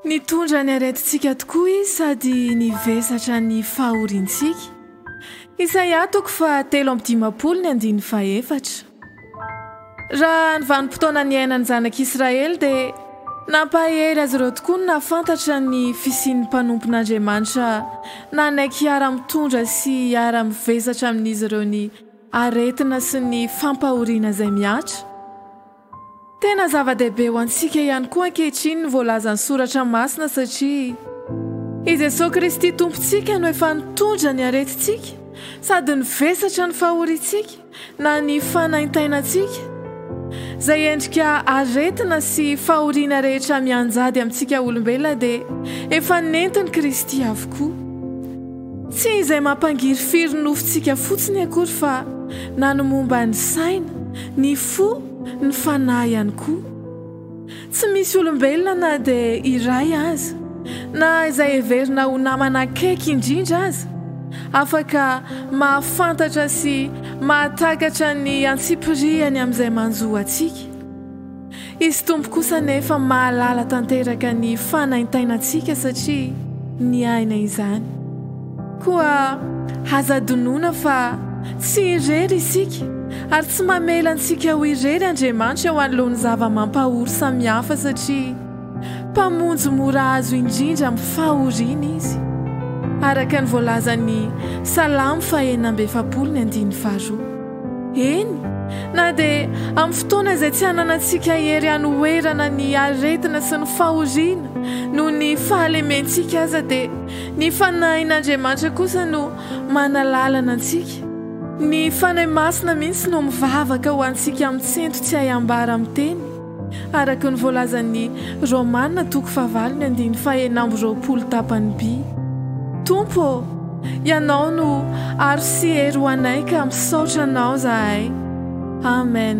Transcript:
Nitondra ny aretintsika tokoa Izy sady nivesatra ny fahoriantsika. Isaia toko fahatelo amby dimampolo ny andininy fahefatra. Raha ny vanim-potoana niainan'ny zanak'Israely dia nampahery azy ireo tokoa ny nahafantatra ny fisian'ny mpanompon'Andriamanitra nanaiky hiara-mitondra sy hiara-mivesatra amin'izy ireo ny Aretina sy ny fampahoriana izay mihatra. Tena zava-dehibe ho antsika ihany koa ankehitriny ny voalazan'ny Soratra Masina satria i Jesoa Kristy Tompontsika no efa nitondra ny aretintsika sady nivesatra ny fahoriantsika na ny fanaintainantsika izay endrika aretina sy fahoriana rehetra mianjady amintsika olombelona dia efa nentin'i Kristy avokoa. Tsy izay mampangirifiry ny nofontsika fotsiny akory fa na ny momba ny saina, ny fo, ny fanahy ihany koa. Tsy misy olombelona na dia iray aza, na izay heverina ho namana akaiky indrindra aza, afaka mahafantatra sy mahatakatra ny antsipirihany amin'izay manjo antsika. Izy Tompo kosa anefa mahalala tanteraka ny fanaintainantsika satria niaina izany. Koa aza adinoina fa tsy irery isika ary tsy mamela antsika ho irery Andriamanitra eo anoloan'ny zava-mampahory samihafa satria Mpamonjy mora azo indrindra amin'ny fahoriana Izy, araka ny voalazan'ny Salamo fahenina amby efapolo ny andininy faharoa. Eny, na dia amin'ny fotoana izay tsy hananantsika hery hanoherana ny aretina sy ny fahoriana noho ny fahalementsika aza, dia ny Fanahin'Andriamanitra kosa no manalalana antsika. Ny Fanahy Masina mihitsy no mivavaka ho antsika mitsento tsy hay ambara miteny. Araka ny voalazan'ny Romana toko fahavalo ny andininy fahenina amby roapolo tapany bi, Tompo ô, Ianao no aro sy hery ho anay ka misaotra Anao zahay. Amen.